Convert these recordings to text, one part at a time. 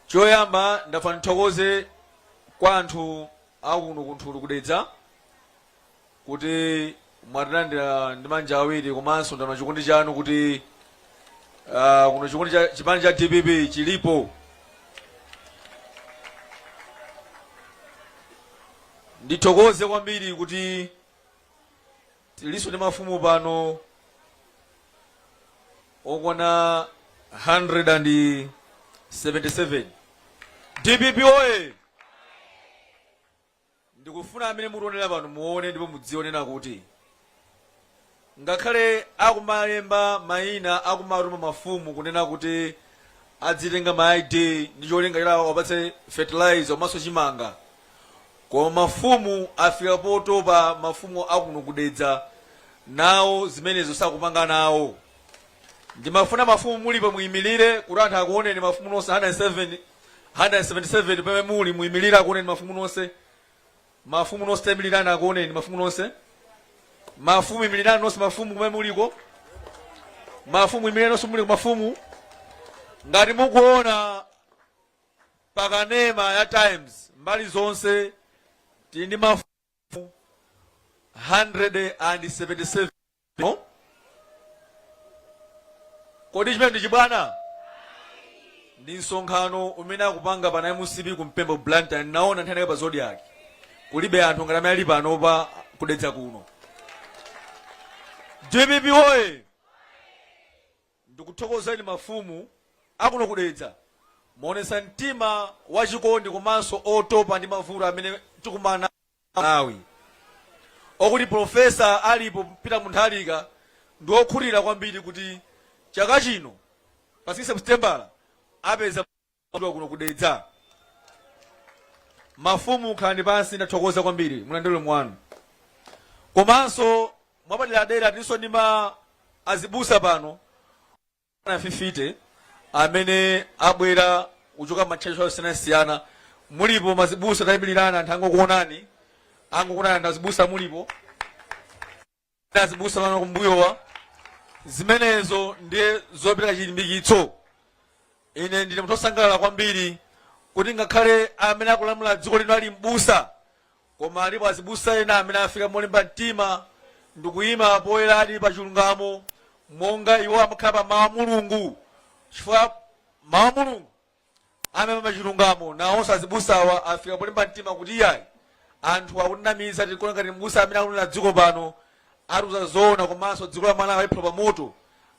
choyamba ndafuna ndithokoze kwa anthu akuno kunthulu ku Dedza kuti mwatilandira ndi manja awiri komanso ndaona chikondi chanu kuti ah, kuno chikondi cha chipani cha dpp chilipo ndithokoze kwambiri kuti Tilinso ndi mafumu pano okwana 177. Dpp oye! Ndikufuna amene mutionera pano muone ndipo mudzionera kuti ngakhale akumalemba mayina akumatuma mafumu kunena kuti adzitenga ma ID ndi cholinga choti awapatse fertilizer komanso chimanga. Koma mafumu afika potopa mafumu akuno ku Dedza nawo zimenezo sakupanga nawo. Ndimafuna mafumu mulipo muimilire kuti anthu akuoneni mafumu nonse 177 pamene muli muimilire akuoneni mafumu nonse. Mafumu nonse taimilirani akuoneni mafumu nonse. Mafumu imilirani nonse mafumu kumene muliko. Mafumu imilirani nonse muliko mafumu. Ngati mukuona Pa kanema ya Times mbali zonse tili ndi mafumu 177. Kodi chimene ndi chibwana? Ndi msonkhano umene akupanga pana MCP ku Mpemba Blantyre. Ndinaona nthawi ina pa Zodiak. Kulibe anthu ngati amene ali pano pa ku Dedza kuno. DPP woye! Ndikuthokozeni mafumu akuno ku Dedza, mwaonetsa mtima wachikondi komanso otopa ndi mavuto amene tikumana nawo ngati a Malawi. Okuti Prof. Arthur Peter Mutharika ndi okhutira kwambiri kuti chaka chino pa 16 Seputembala apeza. Kuno ku Dedza. Mafumu khalani pansi ndathokoza kwambiri mulandire ulemu wanu. Komanso mwapaderadera tilinso ndi ma azibusa pano 150 amene abwera kuchoka m'matchalitchi osiyanasiyana mulipo mazibusa tayimirirani anthu angokuonani, angokuonani anthu azibusa mulipo azibusa pano kumbuyowa zimenezo ndiye zopereka chilimbikitso ine ndine munthu osangalala kwambiri kuti ngakhale amene akulamula dziko lino ali mbusa koma alipo azibusa ena amene afika molimba mtima ndikuyima poyeradi pa chilungamo monga iwo amakhala pa mawu a mulungu chifukwa mawu a mulungu amene pachilungamo nawonso azibusawa afika polimba mtima kuti iyayi anthu akutinamiza tikuona ngati mbusa amene akulira dziko pano atiuza zoona komanso dziko la malawi aliphula pamoto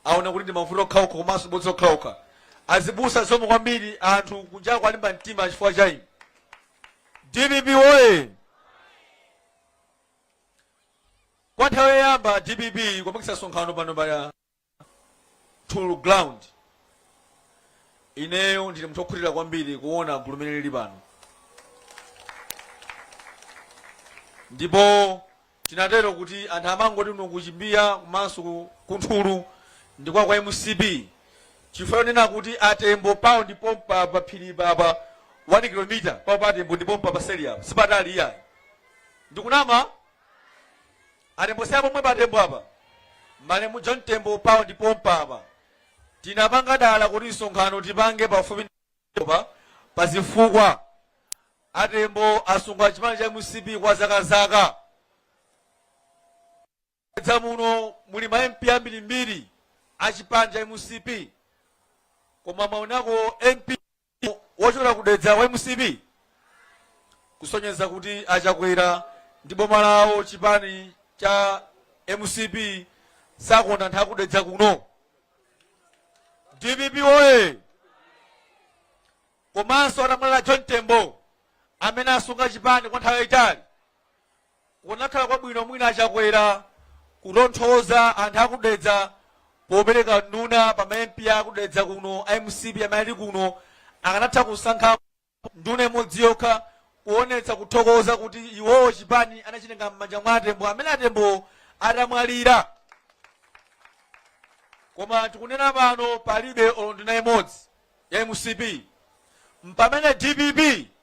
aona kuti ndi mavuto okhaokha komanso bodza lokhalokha azibusa zomwe kwambiri anthu kunjako alimba mtima chifukwa cha inu dpp woye kwa nthawi yoyamba dpp kupangitsa msonkhano pano pa Tool Ground. Ineyo ndine munthu okhutira kwambiri kuona gulu limene lili pano, ndipo tinatero kuti anthu amangoti kuno ku Chimbiya komanso ku- ku Nthulu ndi kwa kwa MCP chifukwa chonena kuti atembo pawo ndi pompa pa phiri papa 1 kilomita pawo pa atembo ndi pompa paseli apa sipatali iyayi ndikunama Atembo si pomwe pa a Tembo apa? Malemu John Tembo pawo ndi pompa apa. Tinapanga dala kuti msonkhano tipange pafupi pa zifukwa. A Tembo asunga chipani cha mcp kwa zaka zaka. Dedza muno muli ma MP ambirimbiri a chipani cha mcp. Koma mwaonako MP wochokera ku dedza wa mcp kusonyeza kuti achakwera ndi boma lawo chipani cha mcp sakonda anthu akudedza kuno dpp oye komanso atamwalira john tembo amene asunga chipani kwa nthawi yayitali Kukanakhala kwabwino mwina a Chakwera kutonthoza anthu aku Dedza popereka nduna pa ma MP aku Dedza kuno a mcp amene ali kuno. Akanatha kusankha nduna imodzi yokha kuonetsa kuthokoza kuti iwowo chipani anachitenga m'manja mwa a Tembo amene a Tembowo atamwalira. Koma tikunena pano palibe olo nduna imodzi ya mcp. Mpamene dpp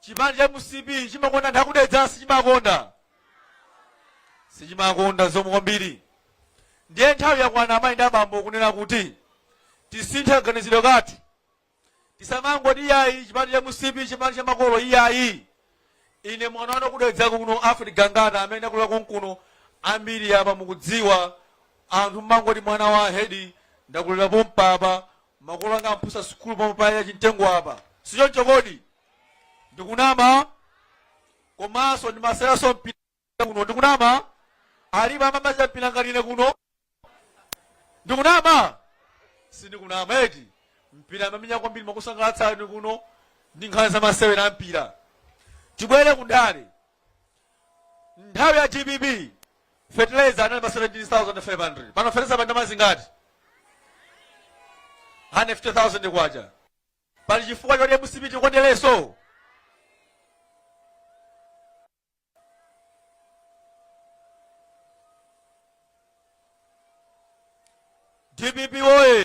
chipani cha mcp chimakonda anthu akudedza sichimakonda sichimakonda zomwe kwambiri ndiye nthawi yakwana amayi ndi abambo kunena kuti tisinthe kaganizidwe kathu tisamangoti iyayi chipani cha mcp chipani cha makolo iyayi ine mwana wanu kudedza kuno Alfred Gangata amene ndakulira konkuno ambiri apa mukudziwa anthu mmangoti mwana wa hedi ndakulira pompapa Makolo anga aphunzitsa sukulu pomwe pa ya chimtengo apa, si choncho kodi? Ndikunama? Komanso ndimaseweranso mpira kuno, ndikunama? Alipo amene amachita mpira ngati ine kuno? Ndikunama? Sindikunama eti? Mpira amamenya kwambiri mwakusangalatsani kuno ndi nkhani za masewera a mpira. Tibwere ku ndale. nthawi ya dpp fertilizer anali pa 17500 pano fertilizer pa ndalama zingati 150000 kwacha pali chifukwa choti mcp tiyikondenso dpp woyee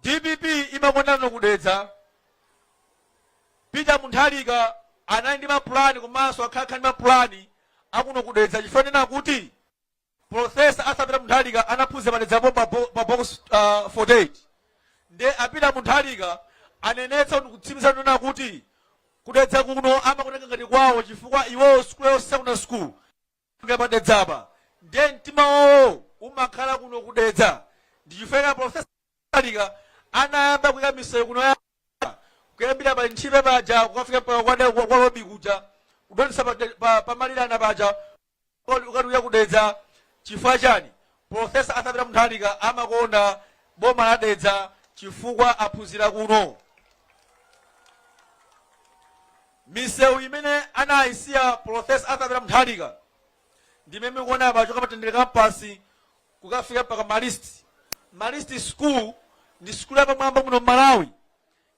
dpp imakonda kuno kudedza peter munthalika anali ndi mapulani komanso akhala ndi mapulani akuno kudedza chifukwa nena kuti profesa arthur peter munthalika anaphunzira padedzapo pa bo- pa box uh, 48 nde a peter munthalika anenetsa ndikutsimikiza nena kuti kudedza kuno amakutenga ngati kwawo chifukwa iwowo sikulu yawo secondary school Nga pa Dedza apa ndiye mtima wawo umakhala kuno ku Dedza ndi chifukwa chake Professor Mutharika anayamba kuika misewu kuno ya kuyambira pa Linthipe paja kukafika mpaka kwa Dedza- kwa Lobi kuja kudutsa pa, De- pa, pa Malirana paja kukathera ku Dedza chifukwa chani Prof. Arthur Peter Munthalika amakonda boma la Dedza chifukwa aphunzira kuno. Misewu imene anayisiya Prof. Arthur Peter Munthalika ndi imene mukuona ya kuchoka pa Mtendere Campus kukafika mpaka Marist. Marist School ndi sukulu yapamwamba muno m'Malawi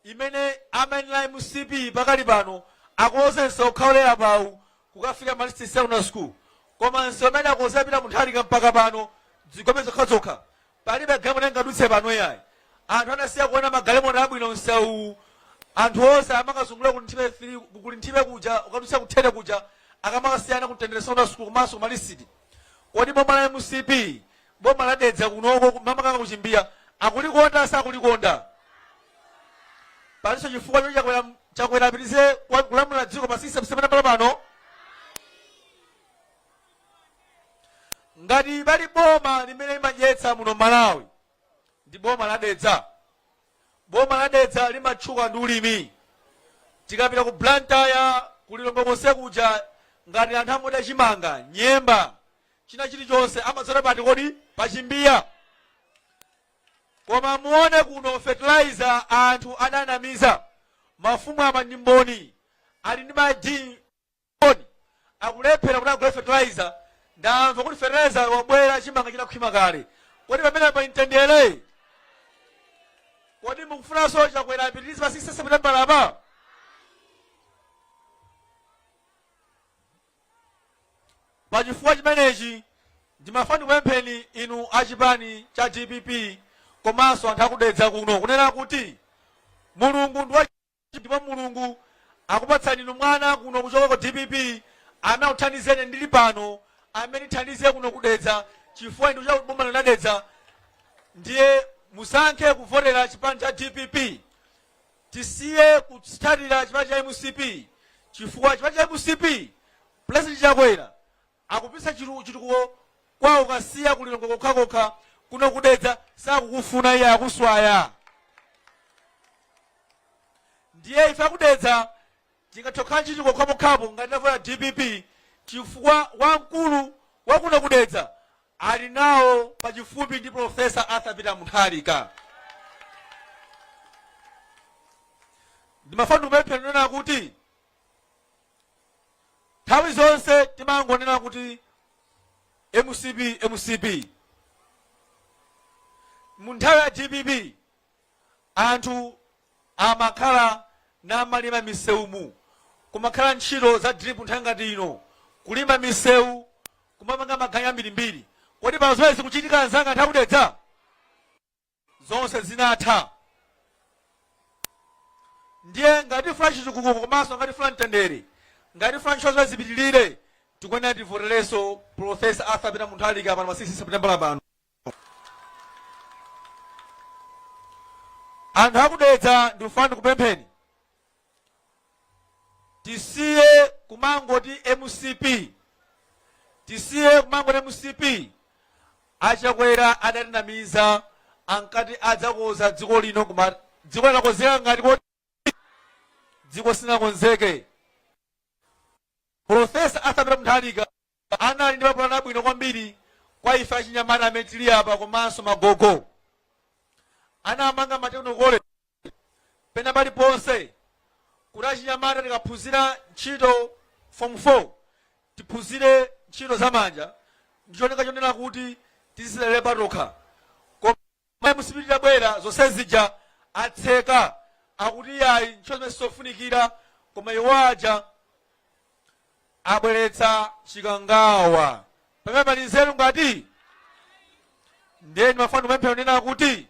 imene amayenera mcp pakali pano akonze msewu wokhaulira phawu kukafika marist secondary school koma msewu umene anakonza a peter munthalika mpaka pano zigobe zokhazokha palibe galimoto ingadutse pano yayi anthu anasiya kuona magalimoto abwino msewuwu anthu onse amakazungulira ku linthipe fili- ku linthipe kuja ukadutsa kuthete kuja akamakasiya ana ku mtendere secondary school komanso ku marist kodi boma la mcp boma la dedza kunoko makamaka ku chimbiya akulikonda sakulikonda palinso chifukwa choti chakwera chakwera apitirize kwa- kulamulira dziko pa system imene pali pano ngati pali boma limene limadyetsa muno malawi ndi boma la dedza boma la dedza limatchuka ndi ulimi tikapita ku blantyre kulilongwe konse kuja ngati anthu amaoda chimanga nyemba china chilichonse amadzera pati kodi pachimbiya koma muone kuno fertilizer anthu adanamiza mafumu apa ndi mboni ali ndi madini mboni akulephera kuti agule fertilizer ndamva kuti fertilizer wabwera chimanga chinakhwima kale kodi pamenepa a mtendere kodi mukufunanso chakwera apitirize pa 16 september apa Pa chifukwa chimenechi ndimafuna ndikupempheni inu a chipani cha dpp komanso anthu aku Dedza kuno kunena kuti Mulungu ndi wachifundo ndipo Mulungu akupatsani inu mwana kuno kuchoka ku dpp amene akuthandizeni ndili pano amene ndithandize kuno ku Dedza chifukwa ndine wa boma lino la Dedza ndiye musankhe kuvotera chipani cha dpp. tisiye kutsatira chipani cha mcp chifukwa chipani cha mcp pulezidenti chakwera akupititsa chitu- chitukuko kwawo ku kasiya kulilongwe kokhakokha kuno kudedza sakukufuna iye akuswaya ndiye ife akudedza tingathe kukhala ndi chitukuko pokhapokhapo ngati tavota dpp chifukwa wamkulu wakuno kudedza ali nawo pachifupi ndi Prof. Arthur Peter Mutharika. Ndimafuna ndikupempheni kunena kuti nthawi zonse timangonena kuti mcp mcp mu nthawi ya dpp anthu amakhala namalima misewumu kumakhala ntchito za drip nthawi ngati ino kulima misewu kumapanga maganyu ambirimbiri kodi pano zimenezi zikuchitika anzanga anthu akudedza zonse zinatha ndiye ngati tifuna chitukuko komanso ngati tifuna mtendere ngati tifuna ntchito zimenezi zipitirire tikuyenera tivoterenso profesa arthur peter mutharika pano pa 16 september pano anthu akudedza ndikufuna ndikupempheni tisiye kumangoti mcp tisiye kumangoti mcp achakwera adatinamiza ankati adzakoza dziko lino koma dziko linakonzeka ngati kodi dziko silinakonzeke profesa arthur peter mutharika Anali ndi mapulani abwino kwambiri kwa ife achinyamata amene tili apa komanso magogo. Anamanga ma technical college pena paliponse kuti achinyamata tikaphunzira ntchito form 4 tiphunzire ntchito za manja ndi cholinga chonena kuti tizidzidalira patokha. koma mcp itabwera zonse zija atseka akuti yayi ntchito zimenezi sizofunikira koma iwo aja abweretsa chikangawa pamenepa pali nzeru ngati ndiye ndimafuna ndikupempheni kunena kuti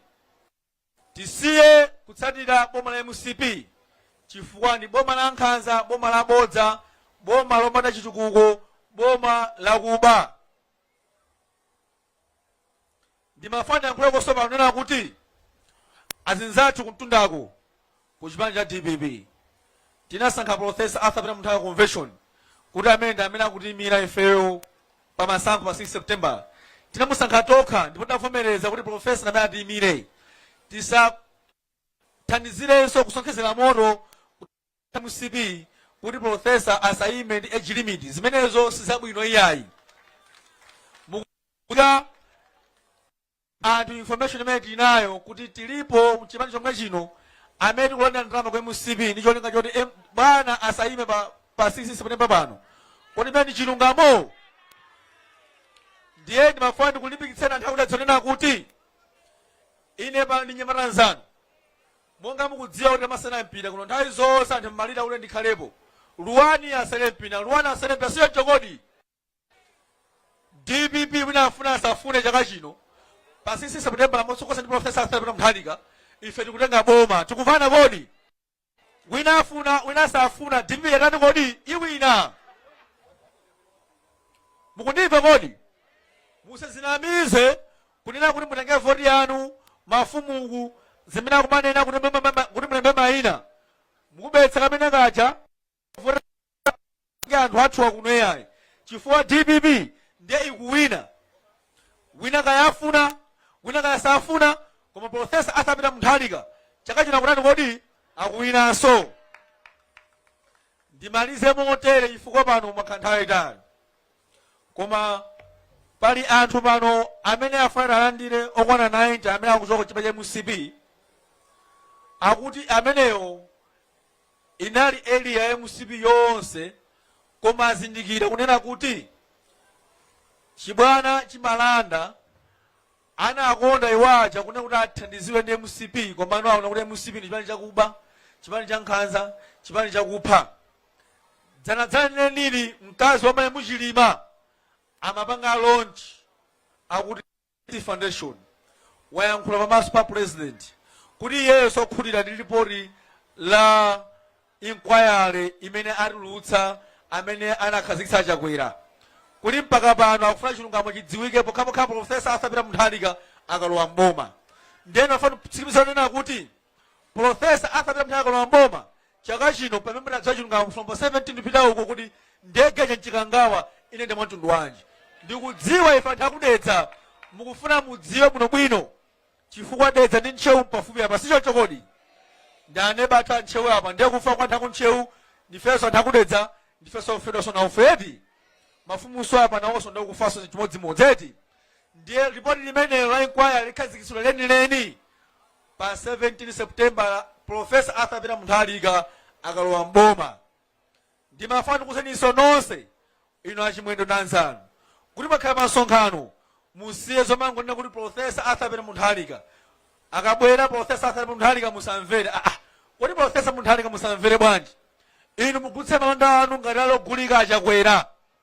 tisiye kutsatira boma la mcp chifukwa ndi boma la nkhanza boma la bodza boma lopanda chitukuko boma lakuba Ndimafuna ndiyankhuleko tsopano kunena kuti azinzathu kumtundaku ku chipani cha dpp tinasankha Prof. Arthur Peter Mutharika convention kuti amene ndi amene akutiimira ifeyo pa masankho pa 16 September. Tinamusankha tokha ndipo tinavomereza kuti Prof. ndi amene atiimire. Tisathandizirenso kusonkhezera moto. mcp kuti professor asayime ndi age limit zimenezo sizabwino iyayi ukuya anthu information imene tili nayo kuti tilipo mchipani chomwe chino amene tikulandira ndalama kwa mcp ndi cholinga choti em- bwana asayime pa pa 16 September pano kodi chimenecho ndi chilungamo ndiye ndimafuna ndikulimbikitseni anthu akwathu zonena kuti ine pano ndi mnyamata mnzanu Monga mukudziwa kuti amasewera mpira kuno nthawi zonse anthu mmalira kuti ndikhalepo. Luwani asewere mpira, luwani asewere mpira si choncho kodi? Dpp wina afune asafune chaka chino pa 16 September motsogozedwa ndi Professor Arthur Peter Mutharika ife tikutenga boma. Tikumvana kodi? Wina afuna, wina asafuna dpp yatani kodi? Iwina. Mukundimva kodi? Musazinamize Kunena kuti mutenge voti yanu mafumu kuti zimene akumanena kuti mbe- mbe- mbe- kuti mulembe maina mukubetsa kameneka kaja vote ngati anthu athu akuno iyayi chifukwa dpp ndiye ikuwina wina kayafuna wina kayasafuna koma profesa Arthur Peter Mutharika chaka chino akutani kodi akuwinanso ndimalize motere chifukwa pano mwakhala nthawi yayitali Koma pali anthu pano amene afuna alandire okwana 90 amene akuchoka chipani cha mcp akuti ameneyo inali area ya mcp yonse koma azindikira kunena kuti chibwana chimalanda anakondera waja kunena kuti athandiziwe ndi mcp komano aona kuti mcp ndi chipani chakuba chipani cha nkhanza chipani chakupha dzanadzanali analiri mkazi wa malemu chilima amapanga launch akuti City foundation wayankhula pamaso pa president kuti iyeyo sakukhutira ndi lipoti la inquiry imene atulutsa amene anakhazikitsa chakwera kuti mpaka pano akufuna chilungamo chidziwike pokhapokha profesa Arthur Peter Mutharika akalowa mboma ndeno ndafuna nditsimikize kunena kuti Pulofesa Arthur Peter Mutharika akalowa m'boma chaka chino pamene munadziwa chilungamo from 17 kupita uko kuti ndege ija m'chikangawa inayenda mwamtundu wanji ndikudziwa ife anthu akudedza mukufuna mudziwe bwinobwino chifukwa dedza ndi ntcheu pafupi apa sichoncho kodi ndi aneba athu a ntcheu apa ndiye kufa kwa anthu akuntcheu ndifenso anthu akudedza ndifenso ofedwanso na ufedi mafumunso apa nawonso ndi kufanso chimodzimodzi eti ndiye ripoti limenelo la inquiry likhazikitsidwa lenileni Pa 17 Seputembala, Pulofesa Arthur Peter Mutharika akalowa m'boma. Ndimafuna ndikuuzeninso nonse inu a Chimwendo ndi anzanu kuti mukakhala pamsonkhano musiye zomangonena kuti Pulofesa Arthur Peter Mutharika akabwera. Pulofesa Arthur Peter Mutharika musamvere. Ah, ah, kodi Pulofesa Mutharika musamvere bwanji? Inu mugulitse malonda anu ngati ali ogulika a Chakwera.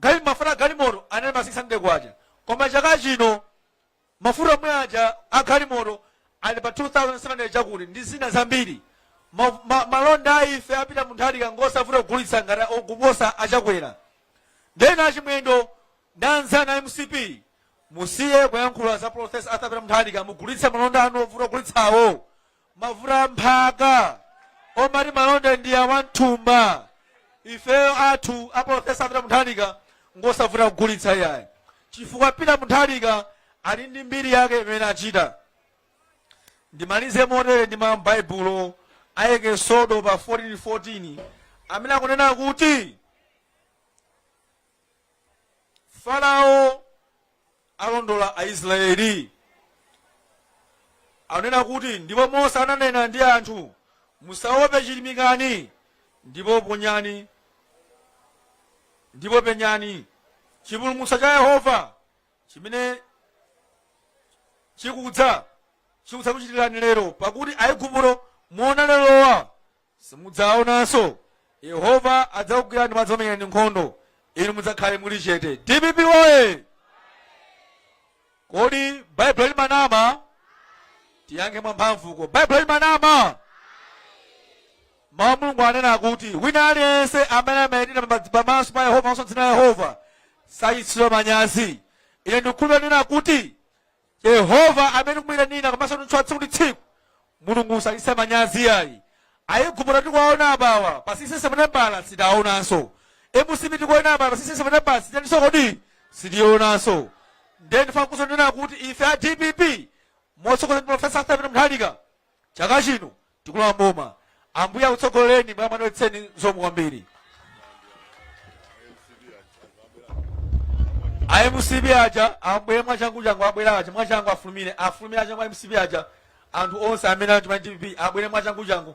gali, mafuta a galimoto anali pa 600 kwacha koma chaka chino mafuta omwe aja a galimoto ali pa 2700 chakuti ndi zina zambiri ma, ma, malonda a ife a peter mutharika ngosavuta kugulitsa ngati okuposa a chakwera ndinena a chimwendo ndi anzanu a mcp musiye kuyankhula za profesa arthur peter mutharika mugulitse malonda anu ovuta kugulitsawo mavuta a mphaka omati malonda ndi a m'thumba ifeyo athu a profesa a peter mutharika ngosavuta kugulitsa iyayi chifukwa peter mutharika ali ndi mbiri yake imene achita ndimalize motere ndi mawu a m'baibulo a eksodo pa 14:14 amene akunena kuti Farao alondola Aisrayeli. Anena kuti, Ndipo Mose ananena ndi anthu, Musaope, chirimikani, ndipo ponyani, ndipo penyani chipulumutso cha Yehova chimene chikudza chikudzakuchitirani lero, pakuti Aigupto muona lerowa simudzaonanso yehova adzakugwirani ndipo adzakumenyerani nkhondo inu mudzakhale muli chete dpp oye kodi baibulo limanama tiyankhe mwamphamvuko baibulo limanama mawu a mulungu anena kuti wina aliyense amene amaitanira pamodzi- pamaso pa yehova komanso dzina la yehova sachititsidwa manyazi ine ndikukhulupirira kuti Yehova amene tikumuyitanira komanso kumutchula tsiku ndi tsiku mulungu sachititsa manyazi iyayi aigupto tikuwaona apawa pa 16 seputembala sitiwaonanso mcp tikuona apawa pa 16 seputembala sititaninso kodi sitiyionanso ndiye ndifuna kuso ndinena kuti ife a dpp motsogozedwa ndi profesa arthur peter mutharika chaka chino tikulowa mboma ambuye akutsogolereni akudalitseni zikomo kwambiri a mcp aja abwere mwachangu changu abwere aja mwachangu afulumire afulumire aja mwa mcp aja anthu onse amene ali mwa dpp abwere mwachangu changu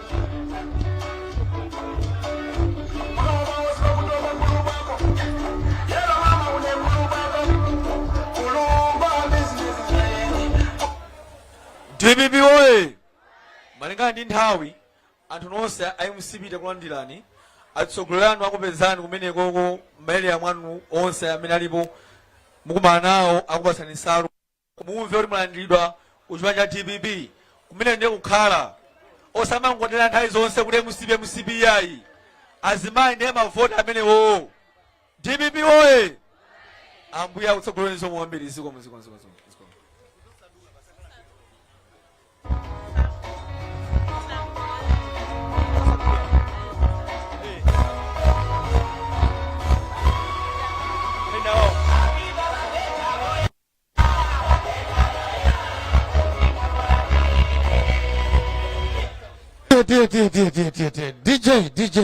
dpp oye malingana ndi nthawi anthu nonse a mcp takulandirani atsogoleri anu akupezani kumenekoko maere amwanu onse amene alipo mukumana nawo akupatsani nsalu mumve kuti mwalandiridwa ku chipani cha dpp kumene ndiye kukhala osamangotera nthawi zonse kuti mcp mcp ayi azimayi ndiye mavoti amenewo dpp oye ambuye akutsogolereni zikomo kwambiri zikomo zikomo zikomo zikomo zikomo. Tiye, tiye, tiye, tiye, tiye, tiye. DJ, DJ.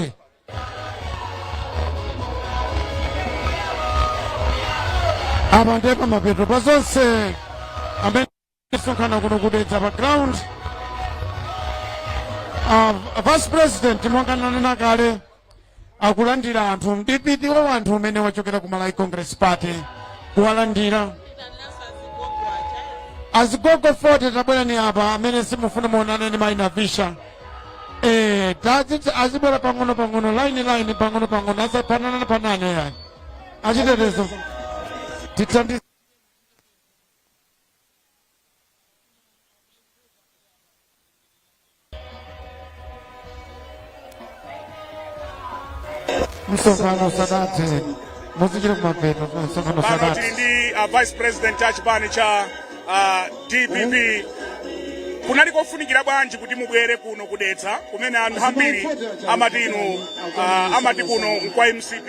Apa ndiye pamapeto pa zonse amene tisonkhana kuno ku Dedza pa ground. Uh, vice president monga ndinanena kale akulandira anthu m'chipiti wa wanthu umene wachokera ku malawi congress party kuwalandira azigogo 40 tabwerani apa amene tikufuna muonane ndi maina visha eh tadziti azibwera pang'ono pang'ono line line pang'ono pang'ono asapanane panane yani achitetezo tithandize msonkhano usadati muzichita kumapeto msonkhano pano usadati tili ndi uh, vice president wa chipani cha uh, dpp kunali kofunikira bwanji kuti mubwere kuno ku dedza kumene anthu ambiri amati inu uh, amati kuno nkwa mcp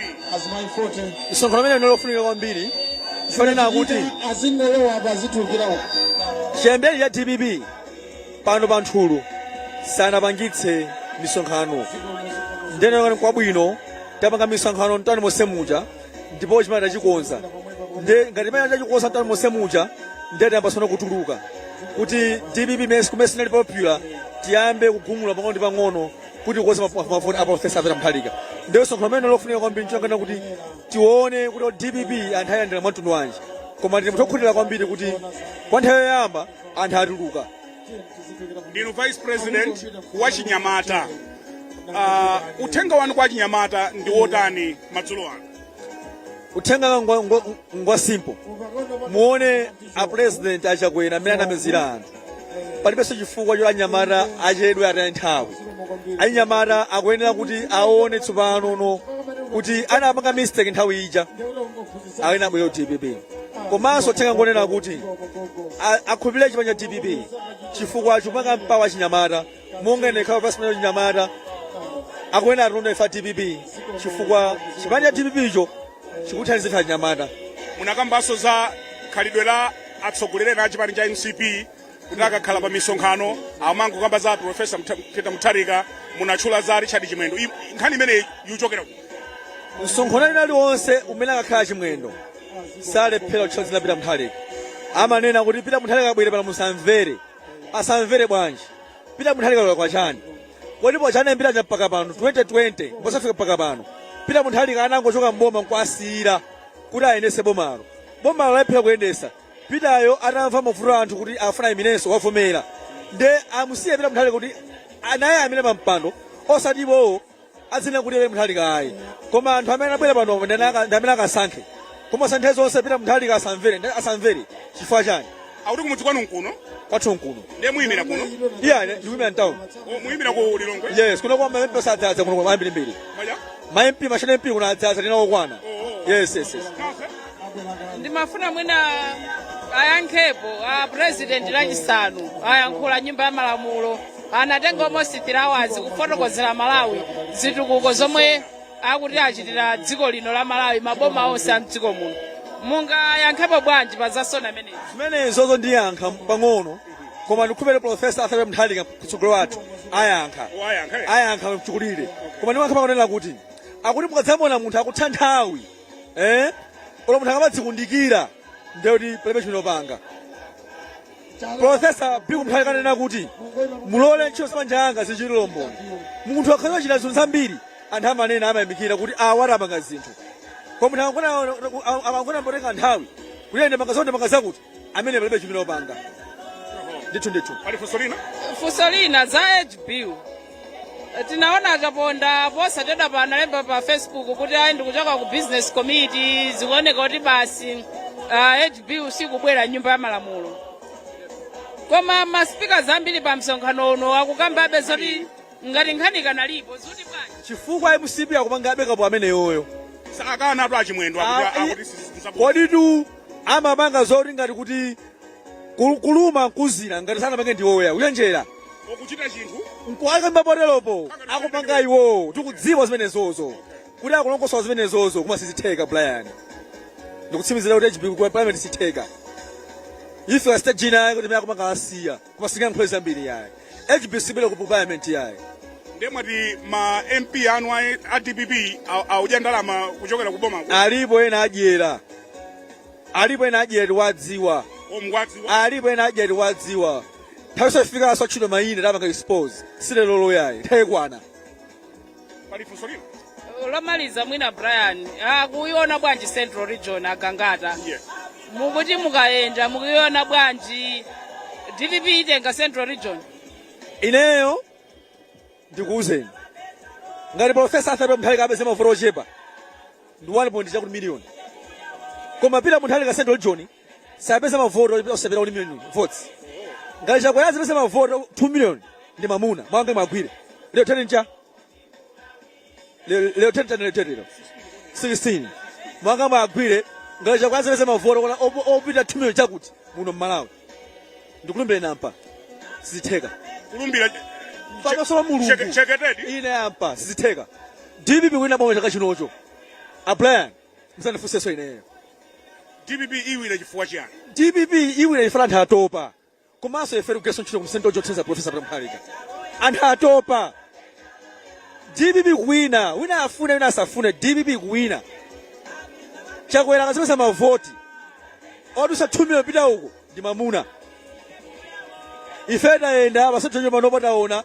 msonkhano umenewu unali wofunika kwambiri ponena kuti chiyambire dpp pano pa nthulu sanapangitse misonkhano ndenekani kwabwino tapanga misonkhano mtani monse muja ndipo chimene tachikonza nde ngati imene tachikonza mtani monse muja nde tiyamba sono kutuluka kuti dpp mes kumene sinali popular tiyambe kugumula pang'ono ndi pang'ono kuti kukonza mavoti a profesa pita mutharika nde msonkhano umenewu ofunika kwambiri nchonakana kuti tione kuti dpp anthu ayandira mwa mtundu wanji koma tili anthu okhutira kwambiri kuti kwa nthawi yoyamba anthu atuluka ndinu vice president wa chinyamata uh, uthenga wanu kwa achinyamata ndi wotani madzulo ano uthenga wanga ngwa- ngwa- ngwa simple muone a president achakwera amene anamizira anthu palibenso chifukwa choti anyamata achedwe ataye nthawi achinyamata akuyenera kuti aone tsopano kuti anapanga mistake nthawi ija awone abwere ku dpp komanso uthenga ngonena kuti a- akhulupirire chipani cha dpp chifukwa chikupanga empower achinyamata monga ine khawa pasipani achinyamata akuyenera atundu ifa dpp chifukwa chipani cha dpp icho chikuthandiza achinyamata munakambanso za khalidwe la atsogoleri ena a chipani cha mcp kuti akakhala pa misonkhano amangokamba za profesa peter mutharika munatchula za richard chimwendo I- nkhani imeneyi ikuchokera kuti msonkhano wina uliwonse umene akakhala chimwendo salephera kutchula dzina pita mutharika amanena kuti pita mutharika abwere pano musamvere asamvere bwanji pita mutharika lola kwachani kodi pochoka mbiri ija mpaka pano 2020 mpaka kufika mpaka pano pita mutharika anangochoka mboma nkuwasiyira kuti ayendetse bomalo bomalo alephera kuyendesa Pitayo atamva mavuto a anthu kuti afuna ayimirenso wavomera nde amusiye Peter Mutharika kuti naye ayimire pa mpando osati iwowo adzinena kuti Peter Mutharika ayi koma anthu amene anabwera panopo ndi ana- ndi amene akasankhe koma osati nthawi zonse Peter Mutharika asamvere nde asamvere chifukwa chani akuti kumudzi kwanu nkuno kwathu nkuno ndiye muyimira kuno iyayi ine ndikuyimira mtauni O, muyimira ku lilongwe yes kuno kwa maempi osadzadza kuno kwa ambirimbiri Maya? maempi mashana empi kuno adzadza ndinawo kwana yes yes yes Kafe? ndimafuna mwina ayankhepo a president lachisanu ayankhula nyumba ya malamulo anatenga almost 3 hours kufotokozera malawi zitukuko zomwe akuti achitira dziko lino la malawi maboma onse a mdziko muno mungayankhepo bwanji pa za sona imeneyi zimenezozo ndiyankha pang'ono koma ndikhulupirira profesa arthur pita mutharika mtsogoleri wathu ayankha ayankha mchikulire koma ndiyankha pakonena kuti akuti mukadzamuona munthu akutha nthawi eh olo munthu akamadzikundikira ndiye kuti palibe chimene wapanga profesa bingu mutharika ananena kuti mulole ntchito zamanja yanga zichitire umboni munthu akakhala wachita zinthu zambiri anthu amanena amayamikira kuti awa atipangira zinthu koma munthu akangona- akangona akutenga nthawi kuti ndapanga zakuti ndapanga zakuti amene palibe chimene wapanga ndithu ndithu pali funso lina funso lina za age bill tinaona achaponda posachedwapa analemba pa facebook kuti ayi ndikuchoka ku business committee zikuoneka kuti basi ah, age bill sikubwera mnyumba ya malamulo koma maspeakers ambiri pa msonkhano uno akukambabe zoti ngati nkhani ikanalipo zoti bwanji chifukwa mcp akupangabe kapo ameneyoyo si akanatu achimwendo Ah, akuti- i- akuti si- si- si- koditu amapanga zoti ngati kuti ku- kuluma nkuuzira ngati sanapange ndiwoya kuchenjera okuchita chinthu nkuwakamva poteropo akupanga iwowo tikudziwa zimenezozo kuti akulongosola zimenezozo koma sizitheka brian ndikutsimizira kuti age bill ku parliament sitheka ife asita jina yake kuti zimene akupanga asiya koma singayankhule zambiri yayi age bill sibwera ku parliament yayi ndiye mwati ma mp anu a a dpp a- akudya ndalama kuchokera ku boma alipo ena adyera alipo ena adyera tiwadziwa o mukuwadziwa alipo ena adyera tiwadziwa nthawi izafika yozatchula mayina tapanga expose si lerolo yayi nthawi ikwana pali funso lina lomaliza mwina brian akuiona bwanji central region agangata Yes. mukuti mukayenda mukuiona bwanji dpp itenga central region ineyo ndikuuzeni ngati profesa arthur peter mutharika apeze mavoti ochepa ndi 1 point chakuti miliyoni koma peter mutharika central region sapeza mavoti oti- ochepera 1 million votes ngati chakwera azapeza mavoti 2 million ndi mamuna mawu anga muwagwire lero deti ncha lero lero deti chani lero deti lero 16 mawu anga muwagwire ngati chakwera azapeza mavoti kona opo- opita 2 million chakuti muno mmalawi ndikulumbira ine apa sizitheka kulumbira pamaso pa mulungu Cheke- cheketedi ine apa sizitheka dpp kuwina boma chaka chinocho abrian msandifunsenso ineyo dpp iwina chifukwa chiyani dpp iwina chifukwa anthu atopa komanso ife tikugwiranso ntchito kumsendo chothandiza profesa peter mutharika anthu atopa dpp kuwina wina afune wina asafune dpp kuwina chakwera akazapeza mavoti odutsa 2 million kupita uko ndi mamuna ife tayenda pasojojo panopo taona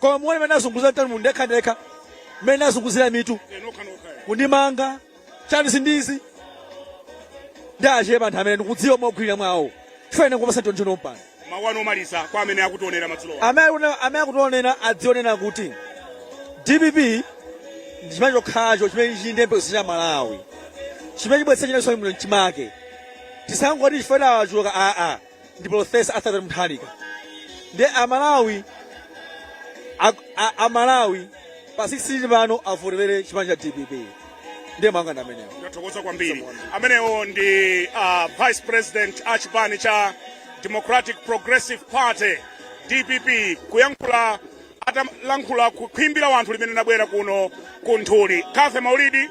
koma muone mmene azunguza mtani mu ndekhandekha mmene azunguzira mitu kundimanga chani sindizi ndi achepa anthu amene ndikudziwa mogwirira mwawo chifukwa kupasa ntonjono mpano mawu anu omaliza kwa amene akutionera madzulo amene akutionera adzionera kuti dpp ndi chipani chokhacho chimene chinde mpesa cha malawi chimene chibwetsa chinaso mchimake tisangoti chifukwa achuluka aa ndi Profesa Arthur Peter Mutharika ndi amalawi ak- a- amalawi pa 16 pano avoterere chipani cha dpp ndiye mangawa ndi amenewo ndathokoza kwambiri amenewo ndi uh, vice president a chipani cha democratic progressive party dpp kuyankhula atalankhula kukhwimbi la anthu limene linabwera kuno ku nthuli kathe maulidi